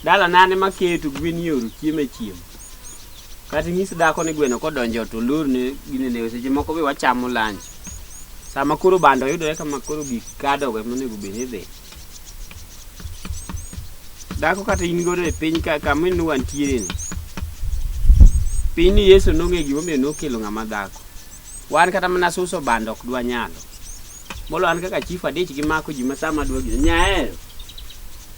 dala nane maketo gwen yoro chiemo e chiemo kata inyis dhako ni gweno kodonjo to lorne ginene seche moko be wachamo lunch sama koro bando yudore kama koro gik kadogo ema onego bed ni idhi Dhako kata in godo e piny ka kama ne wantiere ni. Piny ni Yesu nong'e gima omiyo nokelo ng'ama dhako. Wan kata mana suso bando ok dwa nyalo. Molo an kaka chief adich gi mako ji masama dwa gino. Nyaero.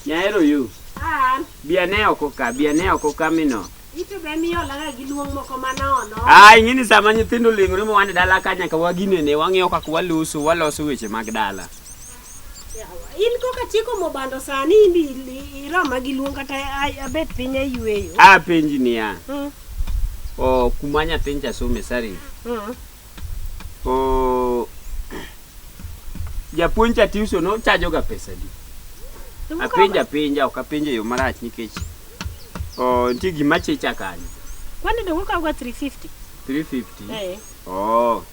Nyaero yu. An, Bia ne oko ka, bia ne oko ka mino. ito be miolaga gi luong moko manono. Ah, ing'eni sama nyithindo oling'ore ma wan e dala ka nyaka waginene, wang'iyo kaka waloso, waloso weche mag dala. In koka chiko mobando sani indi iroma gi luong kata abet piny ayueyo. A penji niya. Mm. O kuma nyathiny cha some sari. Mm. O japuonj cha tiuso no chajo ga pesa di. Apenja penja ok apenja yo marach nikech o nitie gima checha kanyo. Kwani dongo kawo ga 350. 350. Eh. Oh.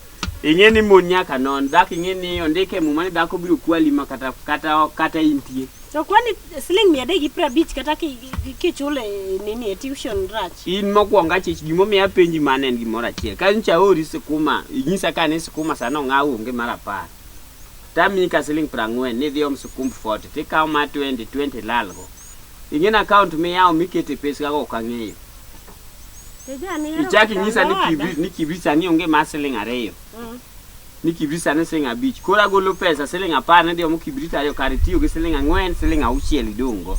ing'e ni mon nyaka non dhako ing'e ni ondike e muma ni dhako biro kwali ma kata kata kata intie To kwani siling mia adek gi piero abich kata ki- ki- kichule nini e tuition rach. in mokwongo achich gimomiyo apenji mano en gimoro achiel ka nyocha aori sikuma inyisa ka ni sikuma sano ong'aw onge mar apar tamiyi ka siling prang'wen ni idhi om sikumb forty tikawo ma twenty twenty lalgo ing'e ni akaont miyawo mikete peskago ok ang'eyo Ichaki nyisa ni kibrit ni kibrit sani onge mar siling ariyo. Mm. Ni kibrit sani siling abich. Koro agolo pesa siling apar ne diomo kibrit ariyo kar itiyo gi siling ang'wen siling auchiel idong' go.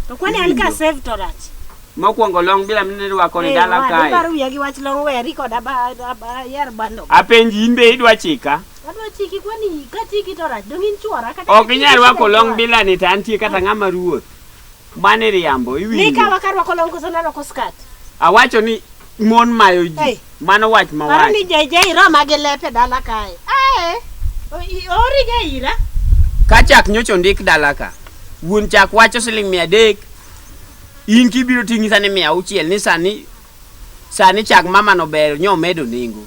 To kwani an ka save to rach. Mokwongo long bila mine rwako ni dala kae. Hey, wadu wiya gi wach long weri kod aba aba yer bando. Apenji in be idwa chika? Adwa chiki kwani ka chiki to rach dong in chuora kata. Ok inyal rwako long bila ni to antie kata ng'ama ruoth. Mane riambo Ni iwinjo. kawa ka rwako long koso narwako skat. Awacho ni mon mayo ji. Hey. Mano wach Paro ni mawacho. JJ iroma gi lepe dala kae. Ae. o- i- Ori ga ira. Ka chak nyocha ondik dala ka. Wuon chak wacho siling mia adek. In kibiro ting'i sani mia auchiel ni sani sani chak mamano ber nyo medo nengo.